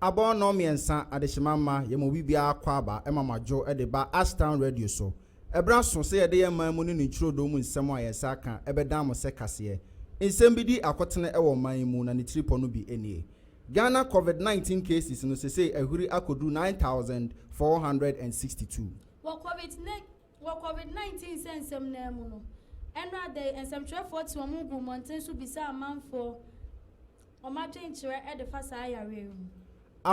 Abɔɔ nnɔn mmiɛnsa adehyema mma yɛn mu obibiara kwaaba ma moadwo de ba Ashtown Radio so. Ɛberɛ aso sɛ yɛde yɛn man mu ne ne ntwerɛdɔm mu nsɛm a yɛn nsa aka bɛdan mo sɛ kaseɛ. Nsɛm bi di akotene wɔ ɔman yi mu na ne tiripɔ no bi nie. Ghana Covid nineteen cases no sesei ahuri akodu nine thousand four hundred and sixty two. Wɔ Covid wɔ Covid nineteen sɛ nsɛm no ara mu no, ɛnora da yi nsɛmtwerɛfoɔ te wɔn guu mmɔnten so bisaa amanfoɔ wɔn adwenkyerɛ de fa saa yareɛ yi ho.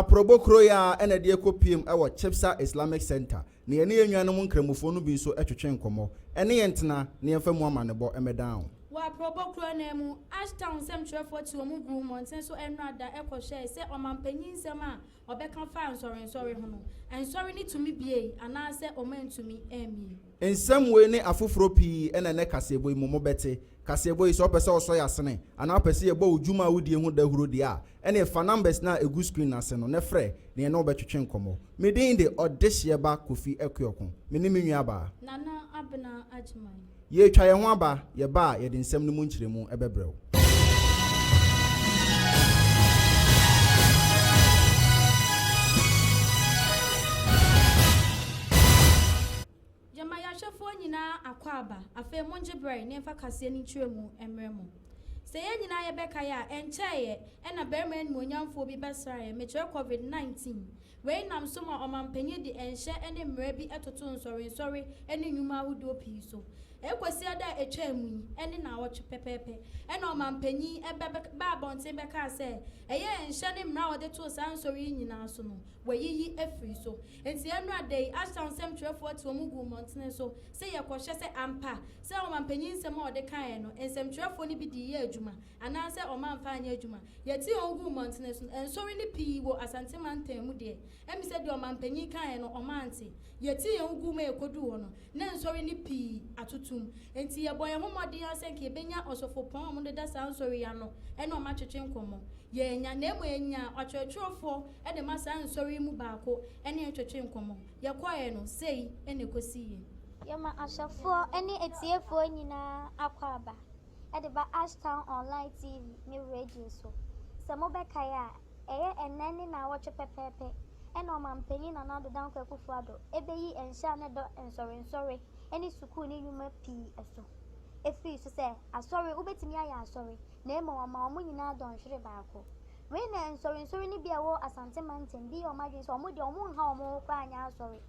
Aprɔbo kuro yi ara na ɛde ɛkɔ piem wɔ Chipsa Islamic Centre Na yɛne yɛn nuanom Nkramofoɔ no bi nso twetwe nkɔmmɔ. Ɛne yɛn ntena na yɛmfa mu amanebɔ mmɛdan wo. Wɔ Aprɔbɔ kuro no ara mu, Ash Town nsɛmtwerɛfoɔ te wɔn guu mmɔnten so nnora da kɔhwɛɛ sɛ ɔmanpanin nsɛm a ɔbɛka faa nsɔrensɔre ho no, nsɔre no tumi buei anaasɛ wɔantumi ammue. Nsɛm wei ne afoforɔ pii na ɛnɛ kaseɛbɔ yi mu mobɛte. Kaseɛbɔ yi, sɛ wopɛ sɛ wɔsɔ yɛn asene anaa wopɛ sɛ yɛbɔ wo dwuma a wodie ho dahuro deɛ a, Ɛneɛ fa numbers no a ɛgu screen no ase no na frɛ neɛ ne wo bɛtwetwe nkɔmmɔ. Me din de Ɔdehyeɛ ba Kofi Akuoko. Me ne me nuabaa. Nana Abena Agyman. Yɛretwa yɛn ho aba, yɛba a yɛde nsɛm no mu nkyerɛmu bɛbrɛ wo. Gyama yɛahwɛfoɔ nyinaa akwaaba, afei mongye berɛ na yɛmfa kaseɛ no nkyerɛmu mmrɛ mo. Sɛ yɛn nyinaa yɛbɛkae a, ɛnkyɛeɛ na barima animuonyamfoɔ bi bɛsraa yɛn, mekyerɛ covid 19. Wei nam so ma ɔmampanyin de nhyɛ ne mmara bi totoo nsɔrensɔre ne nnwuma ahodoɔ pii so. Ɛrekɔsi ɛda a ɛtwaa mu yi ne nnawɔtwe pɛpɛɛpɛ na ɔmampanyin bɛbaa abɔnten bɛkaa sɛ ɛyɛ nhyɛ ne mmara a ɔde too saa nsɔre yi nyinaa so no, wɔayiyi afiri so. Enti ɛnnora da yi, Ashtown nsɛm twerɛfoɔ tew mu guu mmɔntene so sɛ yɛkɔhwɛ sɛ ampa sɛ ɔmampanin nsɛm a ɔde kaeɛ no, nsɛm twerɛfoɔ no bi de yɛɛ adwuma anaa sɛ ɔmamfa anyɛ adwuma. Yɛtee wɔn guu mmɔntene so no, nsɔre no pii wɔ Asante mantam mu deɛ ɛm sɛ deɛ ɔmampanin kaeɛ no ɔmante. Yɛtee wɔn guu ma yɛkɔduu hɔ no, na nsɔre no pii atotom. Enti yɛbɔɔ yɛn ho mmɔden ara sɛ nka yɛbɛnya ɔsɔfopɔn a wɔdeda saa nsɔre yi ano ne wɔn atwetwe nkɔmmɔ. Yɛannya, na mmom yɛnyaa ɔtwerɛtwerɛfoɔ de ma saa nsɔre yi mu baako ne yɛn twetwee nkɔmmɔ. Yɛkɔeɛ no, sei na ɛkɔsiiɛ. Yɛma ahwɛfoɔ ne atiefoɔ nyinaa akwaaba de ba Ashtown Online TV ne radio so. Sɛ mobɛkae a, ɛyɛ ɛnnɛ ne naawɔtwe pɛpɛɛpɛ na Ɔmanpanin Nana Addo Dankwa Akufo-Addo bɛyi nhyɛ a na ɛda nsɔrensɔre ne sukuu ne nnwuma pii so afiri so sɛ, Asɔre, wobɛtumi ayɛ asɔre, na mmom ɔma wɔn nyinaa dɔnhwere baako. Wei na nsɔrensɔre no bi a ɛwɔ Asante mantam bi yɛ wɔn adwene sɛ wɔn deɛ wɔnha wɔn ho koraa nyɛ asɔre.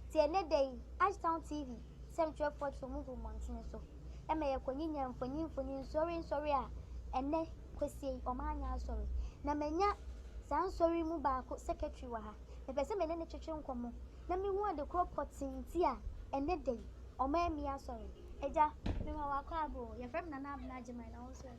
Nti ɛnnɛ da yi, Ashtown TV sɛmtwerɛfoɔ twe wɔn gu mmɔntene so ma yɛkɔnyinya mfoni mfoni nsɔrensɔre a ɛnnɛ kwasie yi wɔanyɛ asɔre. Na manya saa nsɔre yi mu baako secretary wɔ ha. Mepɛ sɛ me ne no twetwe nkɔmmɔ na mehu ade korɔ pɔtee nti a ɛnnɛ da yi wɔammi asɔre. Agya, mema wo akwaabɔ o. Yɛfrɛ me Nana Abena Agyeman na wo nso ɛ?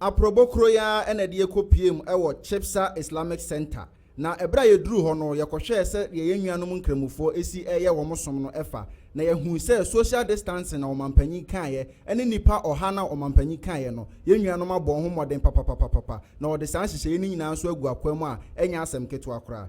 Aprɔbo koro yi ara na ɛde yɛn kɔpueem wɔ Chibsa Islamic Centre, na berɛ a yɛduruu hɔ no, yɛkɔhwɛɛ sɛ deɛ yɛn nuanom Nkramofoɔ si reyɛ wɔn som no fa, na yɛhuu sɛ social distancing a Ɔmanpanyin kaeɛ ne nnipa ɔha no a Ɔmanpanyin kaeɛ no, yɛn nuanom abɔ ho mmɔden papapapapa, na wɔde saa nhyehyɛeɛ no nyinaa nso agu akwaa mu a ɛnyɛ asɛm ketewa koraa.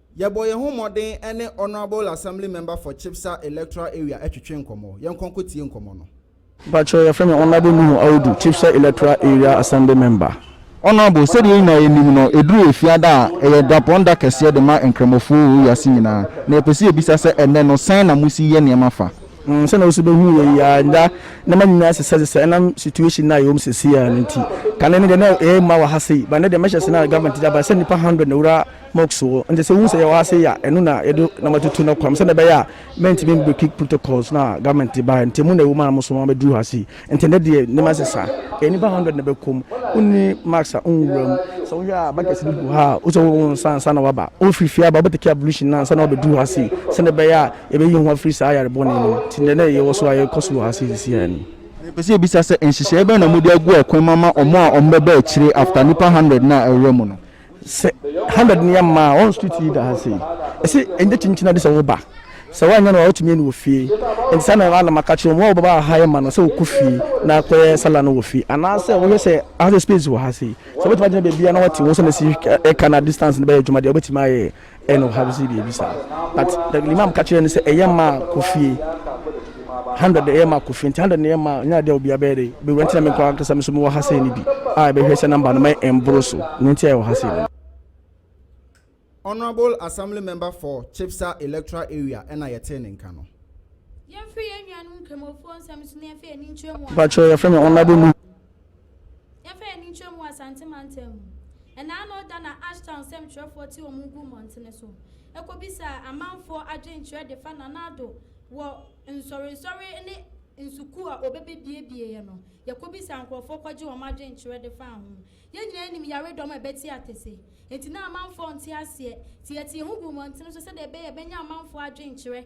Yɛbɔ yɛn ho mmɔden ne Honourable Assembly Member for Chibsa Electoral Area twetwe nkɔmmɔ. Yɛnkɔ nkɔtie nkɔmmɔ no. Mpakyɛw, yɛfrɛ me Honourable Nuhu Audu, Chibsa Electoral Area Assembly Member. Honourable, sɛdeɛ yɛn nyinaa yɛnim no, ɛduru Efiada a, ɛyɛ dapɔn da kɛseɛ de ma Nkramofoɔ wɔ wiase nyinaa. Na yɛpɛ sɛ yɛbisa sɛ, ɛnnɛ no, sɛn na mosi yɛ nneɛma fa? Mm, sɛdeɛ wo nso bɛhunu yɛ yi ara, nnɛ nneɛma nyinaa sesasesa ɛnam situation no a yɛwɔ mu seesei ara no nti. Kane no deɛ na ɛyɛ mma wɔ ha sei, but nnɛ deɛ mɛhyɛ ase no a government de aba sɛ nnipa hundred na ɛwura Musk wɔ. Nti sɛ wohu sɛ yɛwɔ ha sei a, ɛno na yɛde nam atutu no kwan sɛdeɛ ɛbɛyɛ a mɛntumi mbreaki protocols no a government de baeɛ no. Nti emu na ɛwɔ mu a na mosoma mabɛduru ha sei. Nti ɛnnɛ deɛ nneɛma asesa. Ɛyɛ nnipa hundred na ɛbɛkɔ mu. Wonni mask a wonwura mu. Sɛ wohwɛ a buckets bi gu ha a wosɛ wohohoro wo nsa ansa na woaba. Wofiri fie aba a wobɛtake ablution no ansa na woabɛduru ha sei sɛdeɛ ɛbɛyɛ a yɛbɛyi yɛn ho afiri saa yare bɔne no mu. Nti deɛ na yɛwɔ so a yɛkɔ so wɔ ha sei seesei ara ni. Mepɛ sɛ mebisa sɛ nhyehyɛeɛ bɛn na mode agu akwan mu ama wɔn a wɔbɛba akyire after nnipa hundred no a ɛrewura mu no? sɛ hundred ni ama a ɔn street yi da ha sei ɛsɛ ɛnyɛ kyinkyin ade sɛ woba sɛ woanyɛ no a wotumi ani wɔ fie nti saa na ana maka kyerɛ wɔn a wɔbɛba ha yɛ ma no sɛ wokɔ fie na kɔyɛ sala no wɔ fie anaasɛ wohwɛ sɛ aha sɛ space wɔ ha sei sɛ wobɛtumi agyina baabi a na wate wɔn sɛ na si ɛka na distance no bɛyɛ adwuma deɛ wobɛtumi ayɛ Ɛyɛ no ɔhaw sɛ biribi saa. But the Imam ka kyerɛɛ no sɛ ɛyɛ mma a kɔ fie. Hundred ɛyɛ mma kɔ fie nti hundred no yɛ mma a nyɛ adeɛ a obiara bɛyɛ dɛ bɛwura nti na me nko ankasa me nso mewɔ ha sei no bi a ɛbɛhwɛ sɛ number no ma ɛmboro so nea nti a yɛwɔ ha sei no. Honourable Assembly Member for Chipsa Electoral Area ɛna yɛtee ne nka no. Yɛnhwɛ yɛn nuanom Nkramofoɔ nsɛm so na yɛmfa yɛn ani nkyerɛ mu a. Mpakyɛw yɛfrɛ me Honourable Nuhu. Yɛmfa yɛn ani nkyerɛ mu wɔ Asante mantam mu. Ɛnnaano da na Ashtown nsɛmtwerɛfoɔ te wɔn ngu mmɔntene so kɔbisaa amanfoɔ adwenkyerɛ de fa Nana Addo wɔ nsɔrensɔre ne nsukuu a wɔbɛbɛbiebieɛ no. Yɛkɔbisaa nkorɔfoɔ kɔgye wɔn adwenkyerɛ de faa ho. Yɛn nyinaa nim yaredɔm a ɛbɛte atese, enti na amanfoɔ nte aseɛ. Nti yɛtee ho guu mmɔntene so sɛdeɛ ɛbɛyɛ a yɛbɛnya amanfoɔ adwenkyerɛ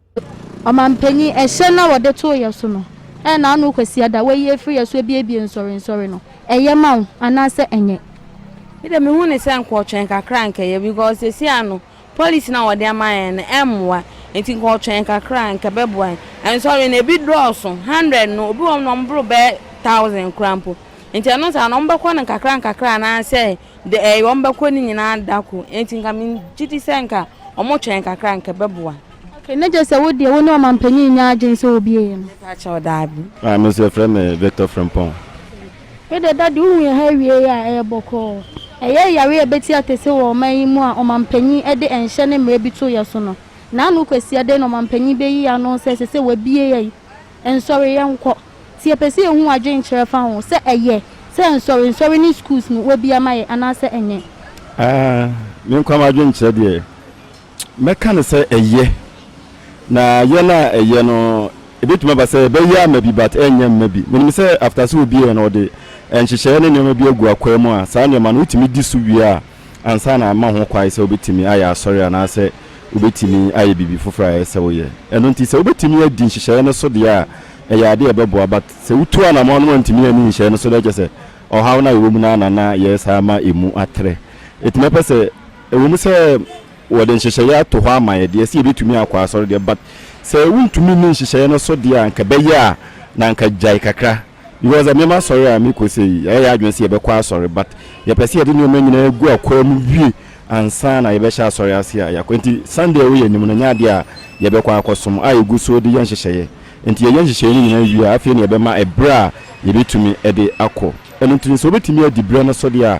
Ɔmampanyin, ɛhyɛ na wɔde too yɛ so no, ɛyɛ na ano Kwasiada wayi afiri yɛ so abiebie nsɔre nsɔre no, ɛyɛ ma wo anaasɛ ɛnyɛ? Me deɛ mehu no sɛ nka ɔtwɛn kakra nka ɛyɛ because seesei ano policy no a wɔde ama yɛn no ɛmmoa nti nka ɔtwɛn kakra a nka ɛbɛboa yɛn. Nsɔre no ebi dɔɔso, hundred no obi wɔ hɔ no ɔboro bɛyɛ thousand koraa mpo nti ɛno saa no wɔbɛkɔ no nkakra nkakra anaasɛ wɔbɛkɔ ne nyinaa da koro nti nka megye di sɛ nka wɔtwɛn kakra a nka ɛbɛboa. Okay na gye sɛ wo deɛ wo ne ɔmanpanyin nnya adwene sɛ obi eye no. Mepa kyɛw daabi. Ah me nso yɛfrɛ me Victor Frimpong. Me deɛ daddy wohu yɛn ha awie yi a ɛyɛ bɔkɔɔ. Ɛyɛ yare a ɛbɛti atese wɔ ɔman yi mu a ɔmanpanyin de ɛnhyɛ ne mmara bi to yɛ so no. Naano Kwasi ɛdɛn na ɔmanpanyin bɛyi yɛn ano sɛ ɛsɛ sɛ wabue yɛn nsɔre yɛnkɔ. Nti yɛpɛ sɛ yɛhu w'adwenkyerɛ fa ho sɛ ɛyɛ sɛ nsɔre nsɔre ne schools no wabue ama yɛn anaasɛ ɛnyɛ. Ah me nkwa m'adwenkyerɛ deɛ. Mɛka no sɛ ɛyɛ. Na yɛ no a ɛyɛ no, ebetumi aba sɛ ɛbɛyɛ ama bi but ɛrenyɛ mma bi. Minim sɛ after sɛ obi yɛ no ɔde nhyehyɛe ne nneɛma bi agu akwaa mu a, saa nneɛma no wotumi di so wie a, ansa na ama ho kwan sɛ wobetumi ayɛ asɔre anaasɛ wobetumi ayɛ biribi foforo a ɛyɛ sɛ woyɛ. Ɛno nti sɛ wobetumi adi nhyehyɛe no so deɛ a, ɛyɛ ade a ɛbɛboa but sɛ wotu anamɔn no wantumi anni nhyehyɛe no so deɛ, kyerɛ sɛ ɔhaw no a yɛwɔ mu no ara na na yɛyɛ saa ma emu atrɛ. Enti mɛpɛ sɛ. Ɛwom sɛ wɔde nhyehyɛeɛ ato hɔ ama yɛ deɛ, sɛ yɛbɛtumi akɔ asɔre deɛ, but sɛ wontumi nni nhyehyɛeɛ no so deɛ a, anka ɛbɛyɛ a na anka gyae kakra. Because ɛnnɛ m'asɔre a mekɔ sei, yɛayɛ yɛn adwene sɛ yɛbɛkɔ asɔre, but yɛpɛ sɛ yɛde nneɛma nyinaa gu akwaa mu wie ansa na yɛbɛhyɛ asɔre ase a yɛakɔ. Nti Sunday a ɛwɔ yɛn anim no, ɛnyɛ adeɛ a yɛbɛkɔ akɔsom a yɛgu so de yɛ nhyehyɛeɛ. Nti yɛyɛ nhyehyɛeɛ no nyinaa wie a, afei na yɛbɛma ɛberɛ a yɛbɛtumi de akɔ. Ɛno nti no, sɛ wobɛtumi adi berɛ no so deɛ a,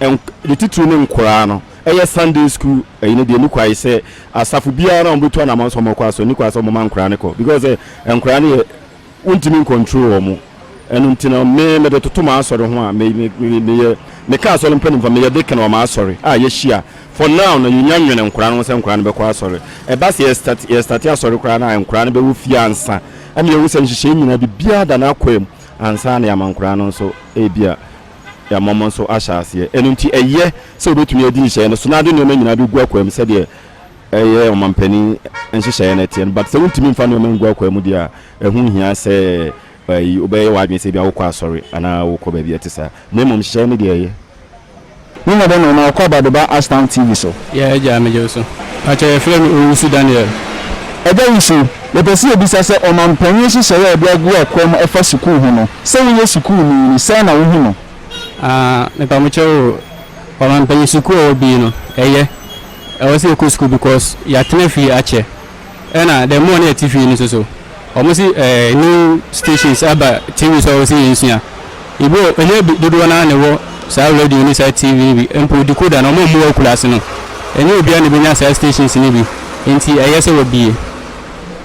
ne titiriw ne nkoraa no yɛ Sunday school ɛyi no deɛ nni kwae sɛ asafo biara no a wɔbɛtu anamɔn sɛ wɔkɔ asɔre nni kwae sɛ wɔma nkoraa no kɔ because sɛ nkoraa no yɛ wontumi ncontrol wɔn ɛno nti no me mede toto m'asɔre ho a meyɛ meka asɔre mpanimfoɔ meyɛ deacon wɔ m'asɔre a yɛhyia for now no yɛnya nwene nkoraa no ho sɛ nkoraa no bɛkɔ asɔre ɛba sɛ yɛstate asɔre koraa no a nkoraa no bɛwɔ fie ansa ɛma yɛhu sɛ nhyehyɛe nyinaa biribiara da no akwam ansa na yɛama nkoraa no nso ebia yɛama mo nso ahyɛ aseɛ. Ɛno nti ɛyɛ sɛ wɔbɛtumi adi nhyehyɛeɛ no so na ade nneɛma nyinaa bɛgu akwaamu sɛdeɛ ɛyɛ ɔmampanin nhyehyɛeɛ no teɛ no. But sɛ wontumi mfa nneɛma ngu akwaamu deɛ a, ɛho nhia sɛ ayi, wobɛyɛ w'adwene sɛ ebia wokɔ asɔre anaa wokɔ baabi a ɛte saa. Na mmom nhyehyɛeɛ no deɛ ɛyɛ. Ne nyɛ dɛ no na ɔkɔ Abadoba Ashtown TV so. Yeah agya megye wo so. Pakyɛ yɛfrɛ me Owusu Daniel. Agya Wusu, Yɛpɛ sɛ yɛbisa sɛ ɔmanpanyin nhyehyɛe a wɔde agu akwan mu ɛfa sukuu ho no, sɛ woyɛ sukuuni no, sɛn na wohu no? Aa, mepa mo kyɛw o, ɔmanpanyin sukuu a ɛwɔ bi no, ɛyɛ. Ɛwɔ sɛ yɛkɔ sukuu because yɛatena fie akyɛ. Ɛna the more na yɛte fie no nso so, wɔn se ɛɛ new stations aba TV so a ɛwɔ sɛ yɛnsua. Ebia ɛnyɛ dodoɔ no ara na ɛwɔ saa radio ne saa TV no bi, mpo decoder no wɔmmu wɔ akuraase no. Ɛnyɛ obiara na ɛbɛnya saa stations no bi, enti ɛyɛ sɛ wɔabue.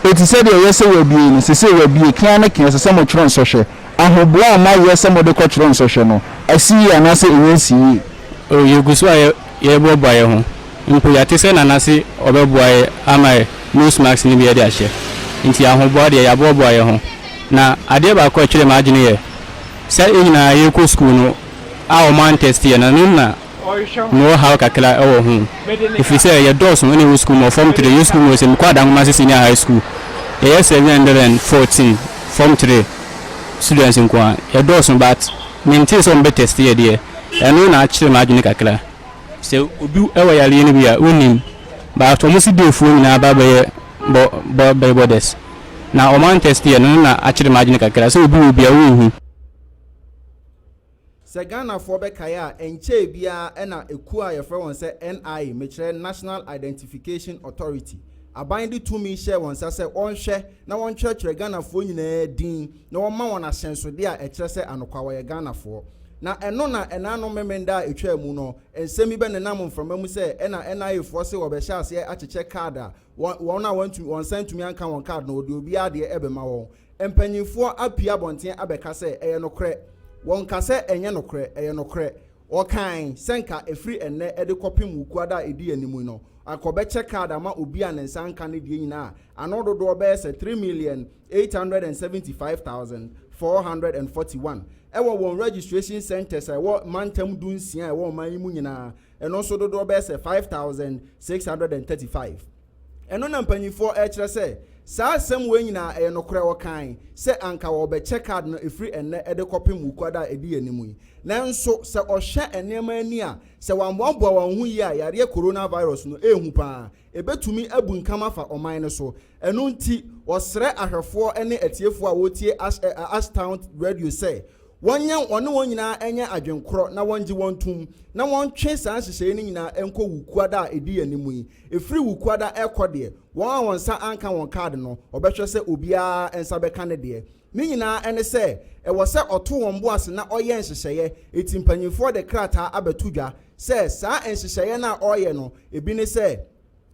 Enti sɛdeɛ ɛyɛ sɛ wɔabue no, seesei wɔabue, kea ne kea, ɛsɛ sɛ motwerɛ nsɔhwɛ. Ahoboa a moayɛ sɛ mode kɔtwerɛ nsɔhwɛ no, asi yie anaasɛ ɛnnya nsi yie? Oh, yɛgu so ayɛ. yɛreboaboa yɛn ho. Mpo yɛate sɛ Nana se ɔbɛboa yɛn ama nose mask no bi yɛde ahyɛ. Nti ahoboa deɛ, yɛaboaboa yɛn ho. Na adeɛ baako a ɛtwerɛɛ m'adwene yɛ sɛ yɛn nyinaa yɛrekɔ sukuu no a wɔantɛste yɛn no, ɛno na mewɔ haw kakra wɔ ho. Ɛfiri sɛ yɛdɔɔso na yɛwɔ sukuu mu. Wɔ Form Three, yɛn sukuu mu wɔ sɛ mekɔ Adankomase Senior High School, yɛyɛ seven hundred and fourteen Form Three students nko ara. Yɛdɔɔso but mentee sɛ wɔbɛtɛste yɛn deɛ. Ɛno na akyere m'adwene kakra. Sɛ obi wɔ yareɛ no bi a wonnim but wɔn se dayfoɔ nyinaa ba bɛyɛ bɔ bɛyɛ borders na wɔn antest yɛ no no na akyere m'adwene kakra sɛ obi wɔ bi a wonhu. Sɛ Ghanafoɔ bɛkae a, ɛnkyɛɛ biara na ekuo a wɔfrɛ wɔn sɛ NIA, mekyerɛ National Identification Authority, aban de tumi hyɛɛ wɔn nsa sɛ wɔnhwɛ na wɔntwerɛtwerɛ Ghanafoɔ nyinaa din, na wɔma wɔn ahyɛnsodeɛ a ɛkyerɛ sɛ anokwa wɔyɛ Ghanafoɔ. Na ɛno na ɛnanom Memenda a ɛtwaa mu no, nsɛm bi bɛnenam mframa mu sɛ ɛna NIA foɔ se wɔbɛhyɛ aseɛ akyekyɛ card a wɔn wɔn a wɔantumi wɔn nsa antumi anka wɔn card no wɔde obiara deɛ ɛbɛma wɔn. Mpanyinfoɔ apue abɔnten abɛka sɛ ɛyɛ nokorɛ. Wɔnka sɛ ɛnyɛ nokorɛ, ɛyɛ nokorɛ. Wɔkae sɛ nka ɛfiri ɛnnɛ de kɔpem Wukuada a ɛdi anim yi no, anka wɔbɛkyɛ card ama obi a ne nsa anka ne deɛ nyinaa a ano dodoɔ bɛyɛ sɛ three million 875441 wɔ wɔn registration centres a ɛwɔ mantam du nsia a ɛwɔ ɔman yi mu nyinaa, ɛno nso dodoɔ bɛyɛ sɛ 5635. Ɛno na mpanyinfoɔ ɛrekyerɛ sɛ saa asɛm wei nyinaa ɛyɛ nokorɛ wɔkae sɛ anka wɔrebɛkyɛ card no ɛfiri ɛnnɛ ɛde kɔpem wukuada a ɛdi yɛn anim yi nanso sɛ ɔhwɛ nneɛma ani a sɛ wɔammoaboa wɔn ho yie a yareɛ coronavirus no ɛrehu paa Ebetumi abunkam afa ɔman no so. Ɛno nti, wɔsrɛ ahwɛfoɔ ne atiefoɔ a wɔretie Ashtown Radio sɛ wɔnyɛ wɔne wɔn nyinaa nyɛ adwenkorɔ na wɔngye wɔn ntom, na wɔntwe saa nhyehyɛeɛ no nyinaa nkɔ Wukuada a ɛdi yɛn anim yi. Ɛfiri Wukuada rekɔ deɛ, wɔn a wɔn nsa anka wɔn kaad no, wɔbɛhwɛ sɛ obiara nsa bɛka ne deɛ. Ne nyinaa ne sɛ, ɛwɔ sɛ ɔto wɔn bo ase na ɔyɛ nhyehyɛeɛ. Enti mpanimfoɔ de krataa abɛto dwa sɛ saa nhyehyɛeɛ no a ɔreyɛ no, ebi ne sɛ,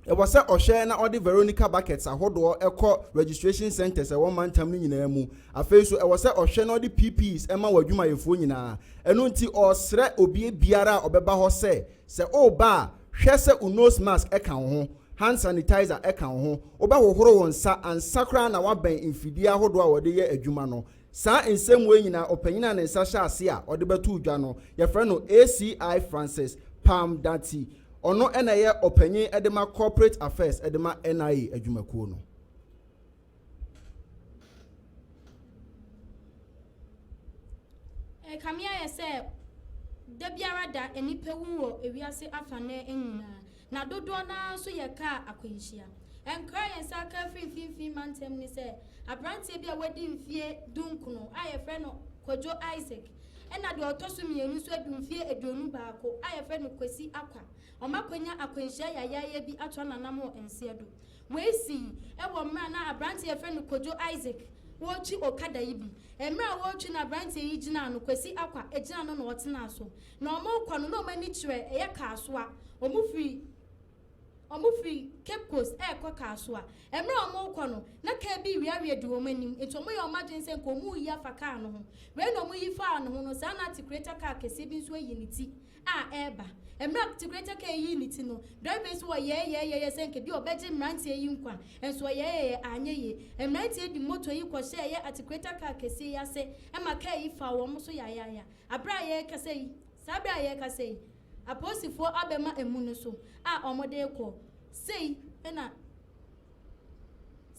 ɛwɔ sɛ ɔhwɛ na ɔde Veronica buckets ahodoɔ kɔ registration centres a ɛwɔ mantam no nyinaa mu. Afei nso, ɛwɔ sɛ ɔhwɛ na ɔde PPEs ma wɔn adwumayɛfoɔ nyinaa. Ɛno nti, ɔresrɛ obibiara a ɔbɛba hɔ sɛ, Sɛ woreba a, hwɛ sɛ wo nose mask ka wo ho, hand sanitizer ka wo ho. Wobɛhohoro wo nsa ansa koraa na woabɛn mfidie ahodoɔ a wɔde yɛ adwuma no. Saa nsɛmmoa yi nyinaa, ɔpanyin a ne nsa hyɛ ase a ɔde bɛto dwa no, yɛfrɛ no ACI Francis Pam Darty. Ɔno na ɛyɛ ɔpanyin de ma Corporate Affairs de ma NIA adwumakuo no. Ɛkame ayɛ sɛ da biara da nnipa wu wɔ ewiase afanan nyinaa, na dodoɔ no ara nso yɛ kaa akwanhyia. Ɛnkra a yɛn nsa aka afiri Mfimfini Mantam ne sɛ, aberanteɛ bi a wadi mfeɛ dunkono a yɛfrɛ no Kwadwo Isaac ɛna deɛ ɔtɔ so mmienu nso adu mfeɛ aduonu baako a yɛfrɛ no Kwasi Akwa, wɔakwanya akwanhyia yayaaya bi atra n'anam wɔ nseɛ do. Wei sii wɔ mmerɛ a na aberanteɛ a yɛfrɛ no Kojo Isaac retwi okada yi bi. Mmerɛ a wɔretwi no aberanteɛ yi gyinaa no, Kwasi Akwa gyinaa no na ɔtenaa so. Na wɔrekɔ no na wɔn ani kyerɛ ɛyɛ Kasoa. Wɔfiri wɔfiri Cape Coast rekɔ Kasoa. Mmerɛ a wɔrekɔ no, na kaa bi reweaweɛ di wɔn anim nti wɔyɛɛ wɔn adwene sɛ nka wɔreyi afa kaa no ho. Wei na wɔyi faa no ho no saa na Atikureta kaa kɛseɛ bi nso ayi ne ti a ɛreba. Mmerɛ a Tigretɛ Kɛɛ yii ne ti no, Driver yi so wɔ yɛɛyɛɛyɛyɛ sɛ nka bi a ɔbɛgye mmeranteɛ yi nkwa, nso ɔyɛɛyɛyɛ anyɛ yie. Mmeranteɛ yi de motor yi kɔhyɛɛyɛ Atigreta kaa kɛseɛ yi ase ma kaa yi faa wɔn so yayaaya. Aberɛ a yɛrekasa yi, saa berɛ a yɛrekasa yi, apolisifoɔ abɛma amu no so a wɔde rekɔ. Sei na.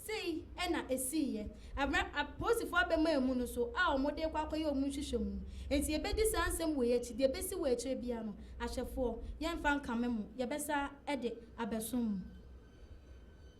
Sei na esiiɛ. Ammra apolisifoɔ abɛmaa mu no so a wɔde rekɔ akɔyɛ wɔn nhwehwɛmu. Enti yɛbɛdi saa nsɛm wei akyi. Deɛ ɛbɛsi wɔ akyire biara no, ahwɛfoɔ, yɛremfa nkame mo. Yɛbɛsa de abɛsom mo.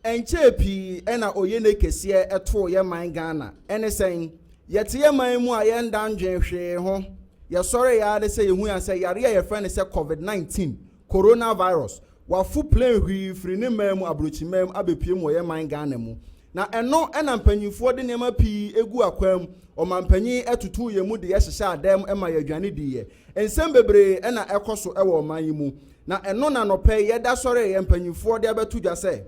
Ɛnkyɛɛ pii na Oyene kɛseɛ too yɛn man Ghana. Ɛne sɛn? Yɛte yɛn man mu a yɛnda nnwene hwee ho. Yɛsɔree ara ne sɛ yɛhuiaa sɛ yareɛ a yɛfrɛ no sɛ Covid 19 Coronavirus, wafo plane hwii firi ne man mu abrokyiman mu abɛpue mu wɔ yɛn man Ghana mu. Na ɛno na mpanyinfoɔ de nneɛma pii gu akwan mu, ɔmanpanyin tutuu yɛn mu de yɛ hyehyɛ adan mu ma yɛ aduane di yɛ. Nsɛm bebree na ɛkɔ so wɔ ɔman yi mu. Na ɛno na anɔpa yi yɛda sɔre yɛ mpanyinfoɔ de abɛto dwa sɛ,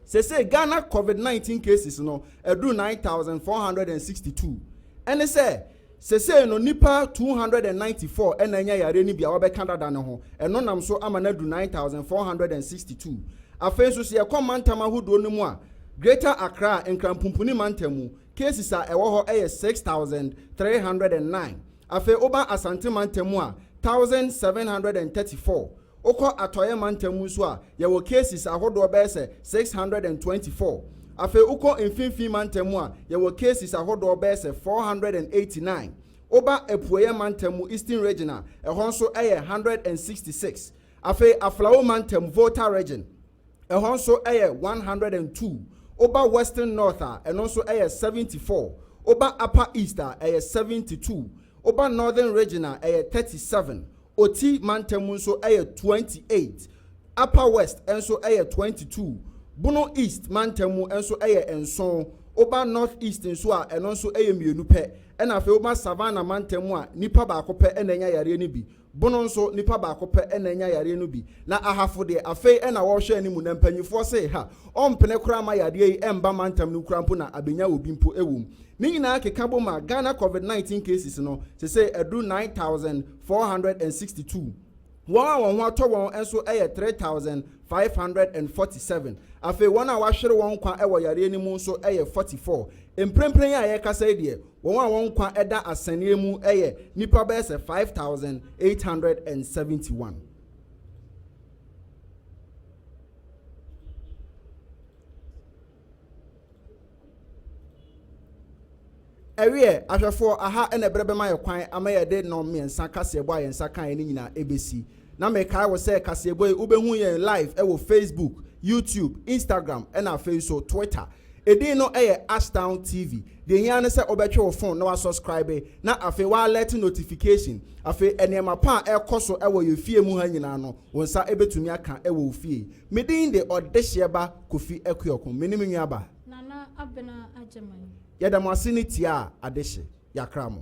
Sesei Ghana Covid nineteen cases no aduru nine thousand four hundred and sixty two. Ɛne sɛ, sesei no nnipa two hundred and ninety four na anya yareɛ no bi a wɔabɛka dada no ho. Ɛno nam so ama no aduru nine thousand four hundred and sixty two. Afei nso sɛ yɛkɔ mantam ahodoɔ no mu a, Greater Accra, Nkranpumpuni mantam mu, cases a ɛwɔ hɔ yɛ six thousand three hundred and nine. Afei woba Asante mantam mu a, thousand seven hundred and thirty four. Wokɔ Atɔeɛ Mantam mu nso a, yɛwɔ cases ahodoɔ bɛyɛ sɛ six hundred and twenty four. Afei wokɔ Mfimfini Mantam mu a, yɛwɔ cases ahodoɔ bɛyɛ sɛ four hundred and eighty nine. Woba Apueeɛ Mantam mu, Eastern Region, a, ɛhɔ nso yɛ one hundred and sixty six. Afei Aflao Mantam, Volta Region, ɛhɔ nso yɛ one hundred and two. Woba Western North a, ɛno nso yɛ seventy four. Woba Upper East a, ɛyɛ seventy two. Woba Northern Region a, ɛyɛ thirty seven. Oti mantam nso yɛ twenty eight, Upper West nso yɛ twenty two, Bono East mantam mu nso yɛ nson, woba North East nso a ɛno nso yɛ mmienu pɛ, ɛna afei woba Savannah mantam mu a nipa baako pɛ na anya yareɛ no bi, Bono nso nipa baako pɛ na anya yareɛ no bi, na Ahafo deɛ afei na wɔrehwɛ anim na mpanyifoɔ se ha ɔmpene koraa ma yareɛ yi mba mantam no mu koraa mpo na abenya obi mpo wɔ mu. Ne nyinaa keka bom a, Ghana Covid nineteen cases no sesei aduru nine thousand four hundred and sixty two. Wɔn a wɔn ho atɔ wɔn nso yɛ three thousand five hundred and forty seven. Afei wɔn a wɔahwere wɔn nkwa wɔ yareɛ no mu nso yɛ forty four. Mprempren a yɛrekasa yi deɛ, wɔn a wɔn nkwa da asɛnneɛ mu yɛ nnipa bɛyɛ sɛ five thousand eight hundred and seventy one. Ɛwieɛ, ahwɛfoɔ aha na ɛberɛ bɛma yɛ kwan ama yɛde nnɔn mmiɛnsa kaseɛbɔ a yɛn nsa kaeɛ no nyinaa ɛbɛsi. Na mekae wo sɛ kaseɛbɔ yi wobɛhu yɛn live ɛwɔ Facebook, YouTube, Instagram ɛna afei nso Twitter. Ɛdin no ɛyɛ Ashtown TV. Deɛ ɛhia ne sɛ wobɛtwe wo phone na wa subscribe na afei wa alert notification. Afei nneɛma pa a ɛrekɔ so ɛwɔ yɛ fie mu ha nyinaa no wo nsa ɛbɛtumi aka ɛwɔ wo fie. Me din de Ɔdehyeɛ ba Kofi Akuokom. Me ne me nua ba. Nana Abena Agyeman. Yɛda mo ase ne tie a adehye. Yɛakra mo.